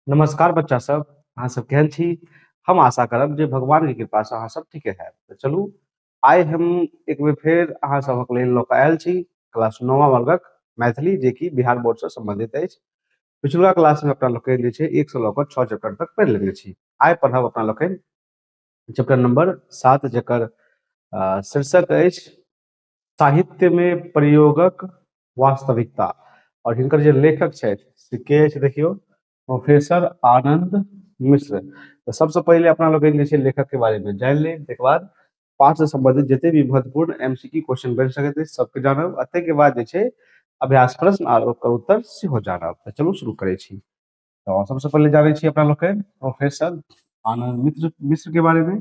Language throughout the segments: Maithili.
नमस्कार बच्चा सब अहाँ सब केहन छी हम आशा करब जे भगवान के कृपा से अहाँ सब ठीके है तो चलू आइ हम एक बेर फेर अहाँ सबक लेल लऽ कऽ आयल छी क्लास नौवा वर्गक मैथिली जे कि बिहार बोर्ड से संबंधित अछि पिछुला क्लास में अपना लोकनि जे छै एक से लऽ कऽ छः चैप्टर तक पढ़ि लेने छी आइ पढ़ब अपना लोकनि चैप्टर नंबर सात जकर अ, शीर्षक अछि साहित्य मे प्रयोगक वास्तविकता आओर हिनकर जे लेखक छथि से के अछि देखियौ प्रोफेसर आनन्द मिश्र तऽ सबसँ पहिले अपना लोग जे छै लेखक के बारे में जान लेब तकर बाद पाठ से संबंधित जते भी महत्वपूर्ण एमसीक्यू क्वेश्चन बन सकते अछि सबके जानब अते के बाद जे छै अभ्यास प्रश्न आर ओकर उत्तर सेहो जानब तऽ चलू शुरू करै छी तो सबसे पहले जाने छी अपना लोग के प्रोफेसर आनंद मित्र मिश्र के बारे में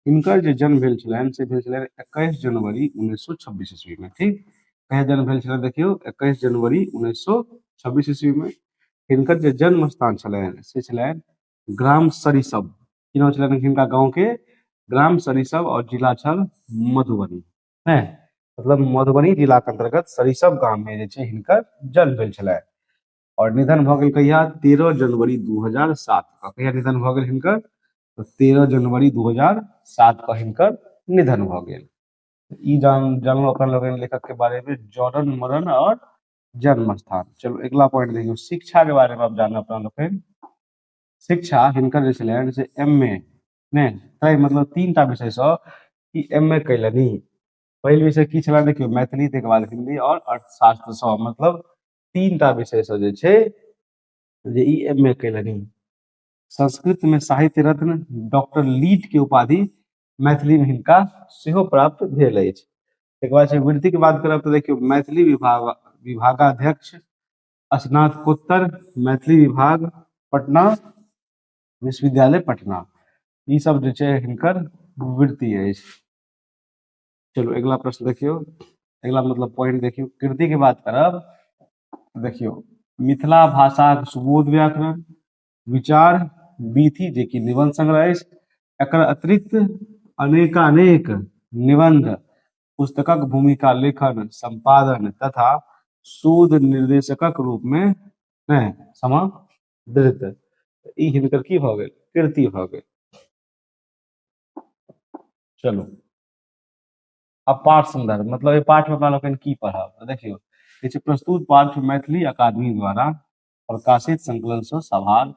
इनकर जो जन्म भेल छलन से भेल छलन 21 जनवरी 1926 ईस्वी में ठीक कहे जन्म भेल छलन देखियो 21 जनवरी 1926 ईस्वी में हिनकर जे जन्म स्थान छलन से छलन ग्राम सरिसब की नाम छलन हिनका गांव के ग्राम सरिसब और जिला छल मधुबनी है मतलब मधुबनी जिला के अंतर्गत सरिसब गांव में जे छै हिनकर जन्म भेल छलन और निधन भ गेल कहिया 13 जनवरी 2007 का कहिया निधन भ गेल हिनकर तो 13 जनवरी 2007 का हिनकर निधन भ गेल ई जान जानलो अपन लोग लेखक के बारे में जॉर्डन मरण और जन्म स्थान चलो अगला पॉइंट देखियो शिक्षा के बारे में आप जानना अपना लोग शिक्षा हिनकर जे छलैन से एमए ने तै मतलब तीन टा विषय से ई एमए कैलनी पहिल विषय की छला देखियो मैथिली तै के बाद हिंदी और अर्थशास्त्र से मतलब तीन टा विषय से जे छै जे ई एम ए कयलनि संस्कृत में साहित्य रत्न डॉक्टर लीट के उपाधि मैथिली में हिनका सेहो प्राप्त भेल अछि तकर बाद छै वृत्तिक बात करब तऽ देखियौ मैथिली विभाग विभागाध्यक्ष स्नातकोत्तर मैथिली विभाग पटना विश्वविद्यालय पटना ई सब जे छै हिनकर वृत्ति अछि चलू अगिला प्रश्न देखियौ अगिला मतलब पॉइंट देखियौ कृति के बात करब देखियौ मिथिला भाषा सुबोध व्याकरण विचार बीथी जे कि निबंध संग्रह अछि एकर अतिरिक्त अनेकानेक निबंध पुस्तकक भूमिका लेखन संपादन तथा शोध निर्देशकक रूप में नहि समादृत ई हिनकर की भऽ गेल कृति भऽ गेल चलू अपार सुंदर मतलब एहि पाठ में अपना लोकनि की पढ़ब तऽ देखियौ कहै छै प्रस्तुत पाठ मैथिली अकादमी द्वारा प्रकाशित संकलन से सभार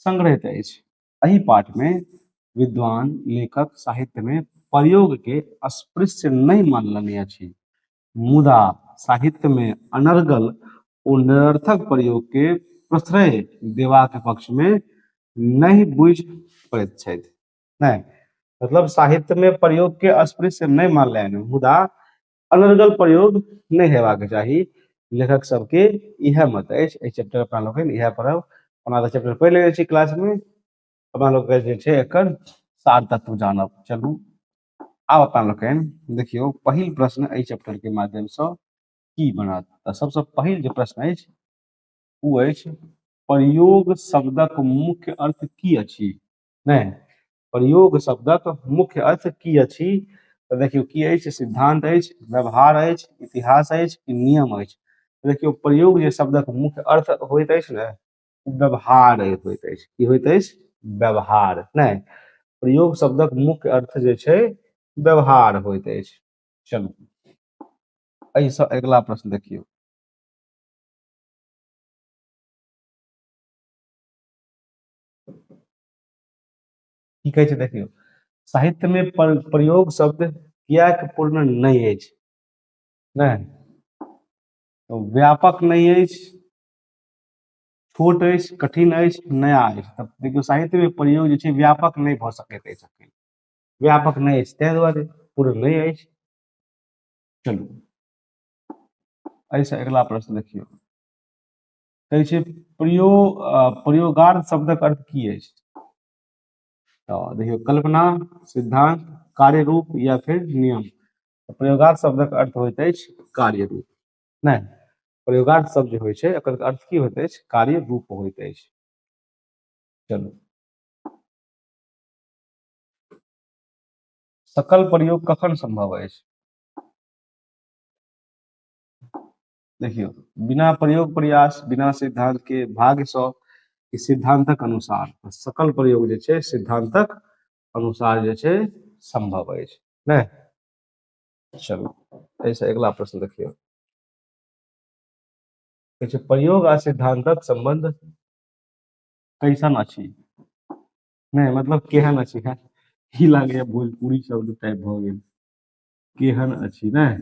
संग्रहित अछि एहि पाठ में विद्वान लेखक साहित्य में प्रयोग के अस्पृश्य नहि मानलनि अछि मुदा साहित्य में अनर्गल ओ निरर्थक प्रयोग के प्रश्रय देवा के पक्ष में नहि बुझि पड़ैत छथि नहि मतलब साहित्य मे प्रयोग के अस्पृश्य नहि मानले हन मुदा अनर्गल प्रयोग नहि हेबाक चाही लेखक सबके इएह मत अछि एहि चैप्टर अपना लोकनि इएह पढ़ब अपना तऽ चैप्टर पढ़ि लेने छी क्लास मे अपना लोकके जे छै एकर सार तत्व जानब चलू आब अपना लोकनि देखियौ पहिल प्रश्न एहि चैप्टर के माध्यम सँ की बनत तऽ सबसँ पहिल जे प्रश्न अछि ओ अछि प्रयोग शब्दक मुख्य अर्थ की अछि नहि प्रयोग शब्दक मुख्य अर्थ की अछि तऽ देखियौ की अछि सिद्धांत अछि व्यवहार अछि इतिहास अछि कि नियम अछि देखियौ प्रयोग जे शब्दक मुख्य अर्थ होइत अछि ने व्यवहार होइत अछि की होइत अछि व्यवहार नहि प्रयोग शब्दक मुख्य अर्थ जे छै व्यवहार होइत अछि चलू एहिसँ अगिला प्रश्न देखियौ की कहै छै देखियौ साहित्यमे पर, प्रयोग शब्द किएक पूर्ण नहि अछि नहि तऽ व्यापक नहि अछि छोट अछि कठिन अछि नया अछि तब देखियौ साहित्यमे प्रयोग जे छै व्यापक नहि भऽ सकैत अछि अखन व्यापक नहि अछि ताहि दुआरे पूर्ण नहि अछि चलू एहिसँ अगिला प्रश्न देखियौ कहै छै प्रयो प्रयोगार्थ शब्दक अर्थ की अछि तऽ देखियौ कल्पना सिद्धांत कार्य रूप या फिर नियम प्रयोगार्थ शब्दक अर्थ होइत अछि कार्य रूप नहि प्रयोगार्थ शब्द जे होइ छै एकर अर्थ की होइत अछि कार्य रूप होइत अछि चलू सकल प्रयोग कखन संभव अछि देखियौ बिना प्रयोग प्रयास बिना सिद्धांत के भाग्य सौ कि सिद्धांतक अनुसार सकल प्रयोग जे छै सिद्धांतक अनुसार जे छै संभव अछि ने चलू एहिसँ अगिला प्रश्न देखियौ कहै छै प्रयोग आ सिद्धांतक संबंध कैसन अछि नहि मतलब केहन अछि है की लागैए भोजपुरी शब्द टाइप भऽ गेल केहन अछि नहि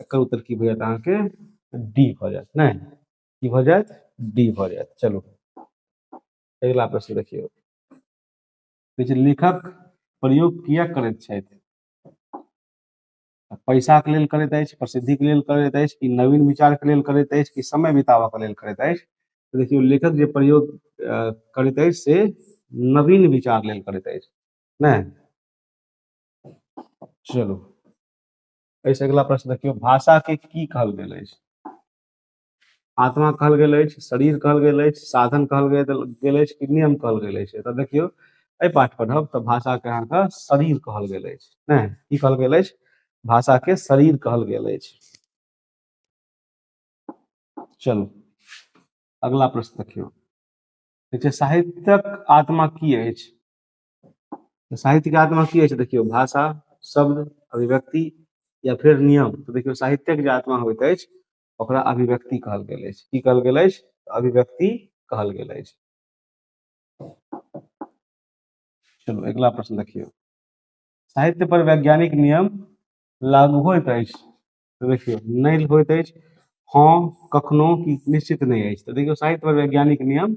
एकर उत्तर की भऽ जायत अहाँके डी भऽ जायत नहि की भऽ जायत डी भऽ जायत चलू अगिला प्रश्न देखियौ कहै छै लेखक प्रयोग किया करैत छथि पैसाके लेल करैत अछि प्रसिद्धिके लेल करैत अछि कि नवीन विचारके लेल करैत अछि कि समय बिताबऽके लेल करैत अछि तऽ देखियौ लेखक जे प्रयोग अ, करैत अछि से नवीन विचार लेल करैत अछि नहि चलू एहिसँ अगिला प्रश्न देखियौ भाषाके की कहल गेल अछि आत्मा कहल गेल अछि शरीर कहल गेल अछि साधन कहल गेल गेल अछि कि नियम कहल गेल अछि एतऽ देखियौ एहि पाठ पढ़ब तऽ भाषाके अहाँके शरीर कहल गेल अछि नहि की कहल गेल अछि भाषाके शरीर कहल गेल अछि चलू अगला प्रश्न देखियौ देखियौ साहित्यक आत्मा की अछि तऽ साहित्य के आत्मा की होइ छै देखियौ भाषा शब्द अभिव्यक्ति या फेर नियम तऽ देखियौ साहित्यक जे आत्मा होइत अछि ओकरा अभिव्यक्ति कहल गेल अछि की कहल गेल अछि अभिव्यक्ति कहल गेल अछि चलू अगिला प्रश्न देखियौ साहित्य पर वैज्ञानिक नियम लागू होइत अछि तऽ देखियौ नहि होइत अछि हँ कखनो की निश्चित नहि अछि तऽ देखियौ साहित्य पर वैज्ञानिक नियम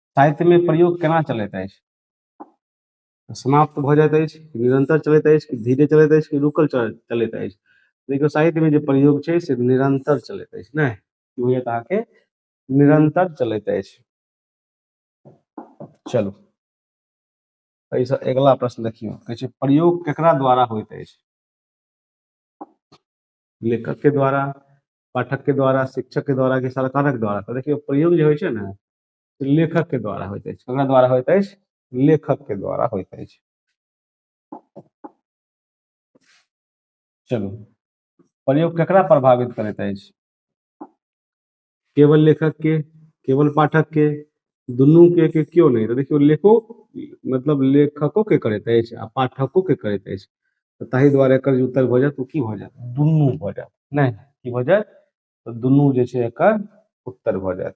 साहित्यमे प्रयोग केना चलैत अछि समाप्त भऽ जाइत अछि कि निरन्तर चलैत अछि कि धीरे चलैत अछि कि रुकल चल चलैत अछि देखियौ साहित्यमे जे प्रयोग छै से निरन्तर चलैत अछि नहि की होइए तऽ अहाँके निरन्तर चलैत अछि चलू एहिसँ अगिला प्रश्न देखियौ कहै छै प्रयोग केकरा द्वारा होइत अछि लेखक के द्वारा पाठक के द्वारा शिक्षक के द्वारा कि सरकारक द्वारा तऽ देखियौ प्रयोग जे होइ छै ने लेखक के द्वारा होइत अछि ककरा द्वारा होइत अछि लेखक के द्वारा होइत अछि चलू प्रयोग ककरा प्रभावित करैत अछि केवल लेखक के केवल पाठक के दुनू के, के क्यों नहीं तो देखियो लेखो मतलब लेखको के करैत अछि आ पाठको के करैत अछि तो ताहि द्वारे एकर जे उत्तर भऽ जायत ओ की भऽ जायत दुनू भऽ जायत नहि की भऽ जायत तऽ दुनू जे छै एकर उत्तर भऽ जायत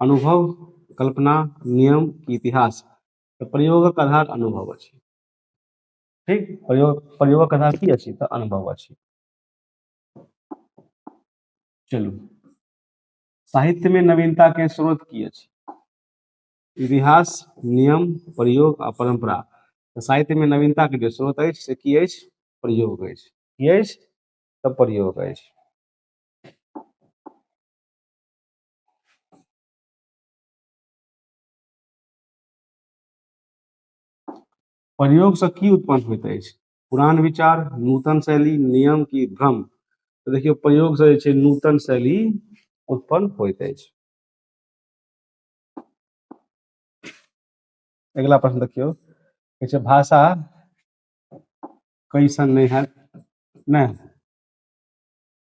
अनुभव कल्पना नियम की इतिहास तऽ प्रयोगक आधार अनुभव अछि ठीक प्रयोग प्रयोगक आधार की अछि तऽ अनुभव अछि चलू साहित्य में नवीनता के स्रोत की अछि इतिहास नियम प्रयोग आ परंपरा तऽ साहित्य में नवीनता के जे स्रोत अछि से की अछि प्रयोग अछि की अछि तऽ प्रयोग अछि प्रयोगसँ की उत्पन्न होइत अछि पुरान विचार नूतन शैली नियम की भ्रम तऽ देखियौ प्रयोगसँ जे छै नूतन शैली उत्पन्न होइत अछि अगिला प्रश्न देखियौ कहै छै भाषा कैसन नहि हैत नहि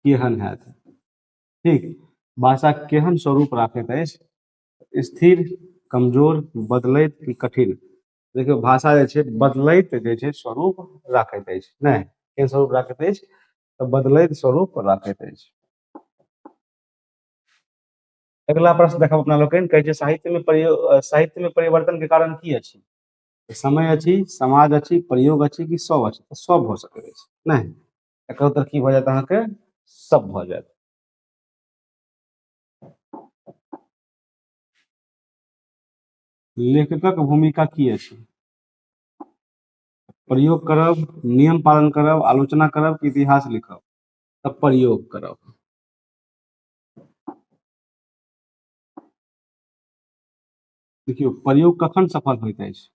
केहन हैत ठीक भाषा केहन स्वरूप राखैत अछि स्थिर कमजोर बदलैत कि कठिन देखियौ भाषा जे छै बदलैत जे छै स्वरूप राखैत अछि नहि केहन स्वरूप राखैत अछि तऽ बदलैत स्वरूप राखैत अछि अगिला प्रश्न देखब अपना लोकनि कहै छै साहित्यमे प्रयोग साहित्यमे परिवर्तनके कारण की अछि समय अछि समाज अछि प्रयोग अछि कि सब अछि सब भऽ सकैत अछि नहि एकर उत्तर की भऽ जायत अहाँके सब भऽ जायत लेखकक भूमिका की अछि प्रयोग करब नियम पालन करब आलोचना करब कि इतिहास लिखब तऽ प्रयोग करब देखियौ प्रयोग कखन सफल होइत अछि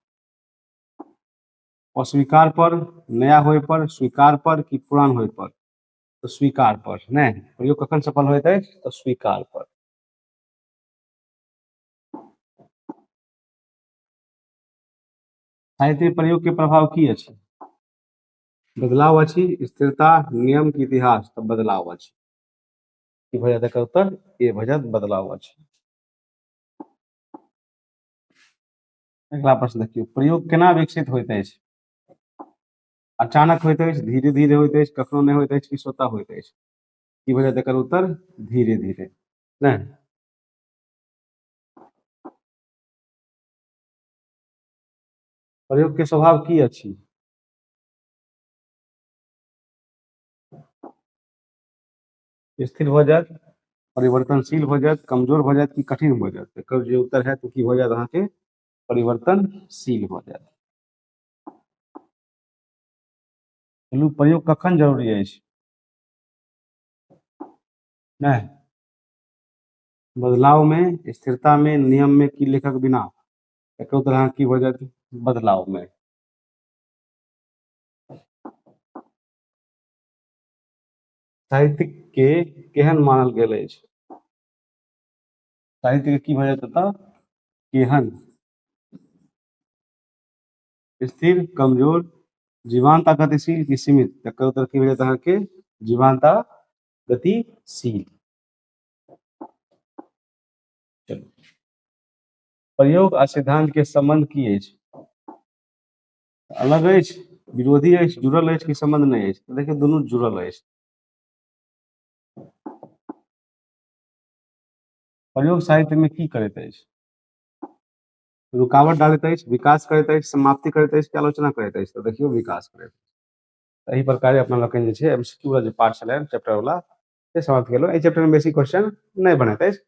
अस्वीकार पर नया होय पर स्वीकार पर कि पुरान होय पर तो स्वीकार पर ने प्रयोग कखन सफल होइत है तो स्वीकार पर साहित्य प्रयोग के प्रभाव की अच्छी बदलाव अच्छी स्थिरता नियम के इतिहास तो बदलाव अच्छी की भऽ जायत उत्तर ए भऽ बदलाव अच्छी अगिला प्रश्न देखियौ प्रयोग केना विकसित होइत अछि अचानक होइत अछि धीरे धीरे होइत अछि कखनो नहि होइत अछि कि स्वतः होइत अछि की वजह एकर उत्तर धीरे धीरे ने प्रयोग के स्वभाव की अछि स्थिर भऽ जायत परिवर्तनशील भऽ जायत कमजोर भऽ जायत कि कठिन भऽ जायत एकर जे उत्तर हैत ओ की भऽ जायत अहाँके परिवर्तनशील भऽ जायत चलू प्रयोग कखन जरूरी अछि नहि बदलाव में स्थिरता में नियम में की लेखक बिना एक तरह की हो जाती बदलाव में साहित्यके केहन मानल गेल अछि साहित्यके की भऽ जायत एतऽ केहन स्थिर कमजोर जीवान्त आ गतिशील की सीमित तकर उत्तर की भेटत अहाँके जीवान्त आ गतिशील चलू प्रयोग आ सिद्धांत के संबंध की अछि अलग अछि विरोधी अछि जुड़ल अछि कि संबंध नहीं अछि देखिए दुनू जुड़ल अछि प्रयोग साहित्य में की करैत अछि रुकावट डालैत अछि विकास करैत अछि समाप्ति करैत अछि आलोचना करैत अछि तो देखियो विकास करैत अछि तो प्रकार अपना लोकनि जे छै एमसीक्यू वाला जे पार्ट छलै चैप्टर वाला से समाप्त केलहुँ एहि चैप्टरमे बेसी क्वेश्चन नहि बनैत अछि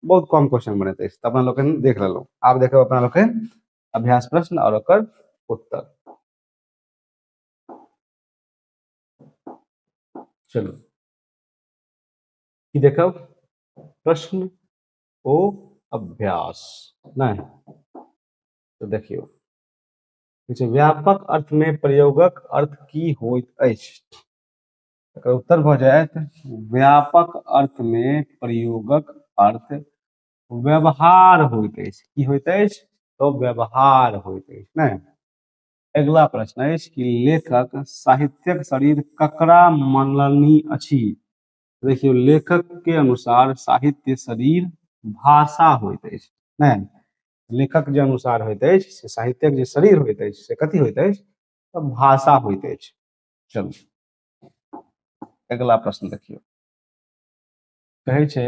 बहुत कम क्वेश्चन बनैत अछि तऽ अपना लोकनि देख लेलहुँ आब देखब अपना लोकनि अभ्यास प्रश्न और ओकर उत्तर चलो कि देखो प्रश्न ओ अभ्यास नहीं तो देखियो व्यापक अर्थ में प्रयोगक अर्थ की होइत अछि एकर उत्तर भ जायत व्यापक अर्थ में प्रयोगक अर्थ व्यवहार होइत अछि की होइत अछि तो व्यवहार होइत अछि ने अगिला प्रश्न अछि कि लेखक साहित्यक शरीर ककरा मनलनी अछि देखियौ लेखक के अनुसार साहित्य शरीर भाषा होइत अछि ने लेखक जे अनुसार होइत अछि से साहित्यक जे शरीर होइत अछि से कथी होइत अछि तऽ भाषा होइत अछि चलू अगिला प्रश्न देखियौ कहै छै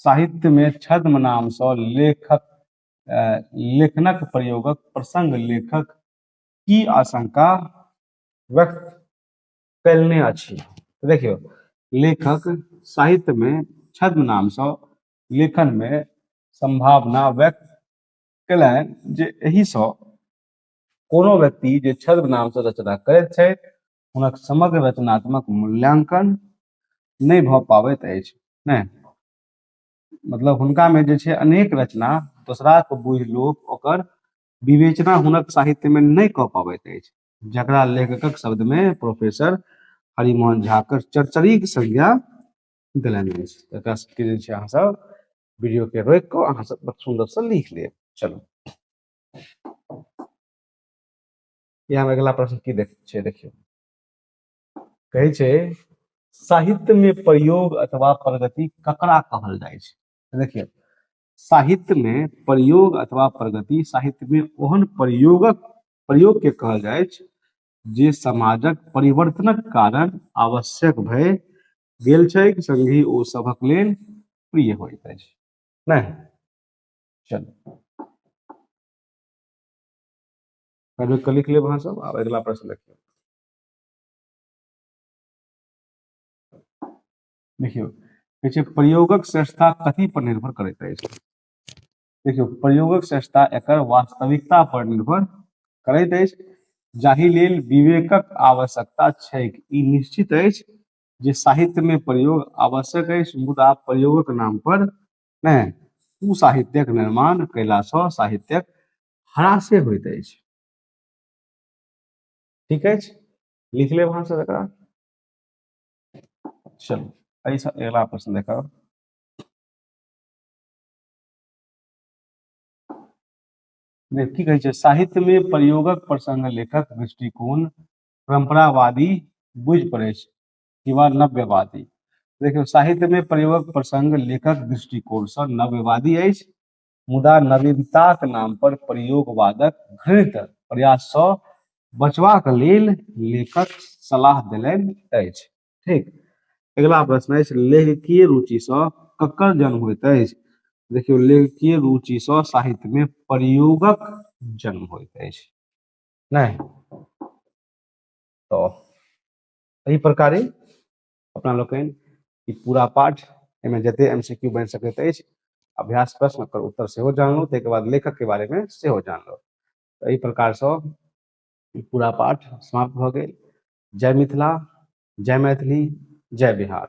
साहित्यमे छद्म नामसँ लेखक लेखनक प्रयोगक प्रसंग लेखक की आशंका व्यक्त कयलने अछि देखियौ लेखक साहित्यमे छद्म नामसँ लेखनमे संभावना व्यक्त कयलनि जे एहिसँ कोनो व्यक्ति जे छद्म नामसँ रचना करैत छथि हुनक समग्र रचनात्मक मूल्यांकन नहि भऽ पाबैत अछि ने मतलब हुनकामे जे छै अनेक रचना दोसराके बुझि लोक ओकर विवेचना हुनक साहित्यमे नहि कऽ पाबैत अछि जकरा लेखकक शब्दमे प्रोफेसर हरिमोहन झाकर चरचरीक संज्ञा देलनि अछि एकरा सबके जे छै अहाँसब वीडियोके रोकि कऽ अहाँसब बड़ सुन्दरसँ लिख लेब चलू या हम अगिला प्रश्न की देख छै देखियौ कहै छै साहित्य में प्रयोग अथवा प्रगति ककरा कहल जाय छै देखियौ साहित्य में प्रयोग अथवा प्रगति साहित्य में ओहन प्रयोगक प्रयोग के कहल जाय छै जे समाजक परिवर्तनक कारण आवश्यक भय गेल छै संगी ओ सभक लेल प्रिय होइत अछि नहीं चलो कहलियै कऽ लिख लेब अहाँसभ आब अगिला प्रश्न देखियौ देखियौ कहै छै प्रयोगक श्रेष्ठता कथी पर निर्भर करैत अछि देखियौ प्रयोगक श्रेष्ठता एकर वास्तविकता पर निर्भर करैत अछि जाहि लेल विवेकक आवश्यकता छैक ई निश्चित अछि जे साहित्य में प्रयोग आवश्यक अछि मुदा प्रयोगक नाम पर नहि कुसाहित्यक निर्माण कयलासँ साहित्यक हरासे होइत अछि ठीक अछि लिख लेब अहाँ सब एकरा चलू एहिसँ अगिला प्रश्न देखब की कहै छै साहित्यमे प्रयोगक प्रसंग लेखक दृष्टिकोण परंपरावादी बुझि पड़ै छै कि वा नव्यवादी देखियौ साहित्यमे प्रयोगक प्रसंग लेखक दृष्टिकोणसँ नव्यवादी अछि मुदा नवीनताक नाम पर प्रयोगवादक घृणित प्रयास सँ बचबाक लेल लेखक सलाह देलनि अछि ठीक अगिला प्रश्न अछि लेखकीय रुचि सँ ककर जन्म होइत अछि देखियौ लेखकीय रुचि सँ साहित्य में प्रयोगक जन्म होइत अछि नहि तो एहि प्रकारे अपना लोकनि ई पूरा पाठ एहिमे जते एम सी क्यू बनि सकैत अछि अभ्यास प्रश्न ओकर उत्तर सेहो जानलहुँ ताहिके बाद लेखकके बारेमे सेहो जानलहुँ तऽ एहि प्रकारसँ ई पूरा पाठ समाप्त भऽ गेल जय मिथिला जय मैथिली जय बिहार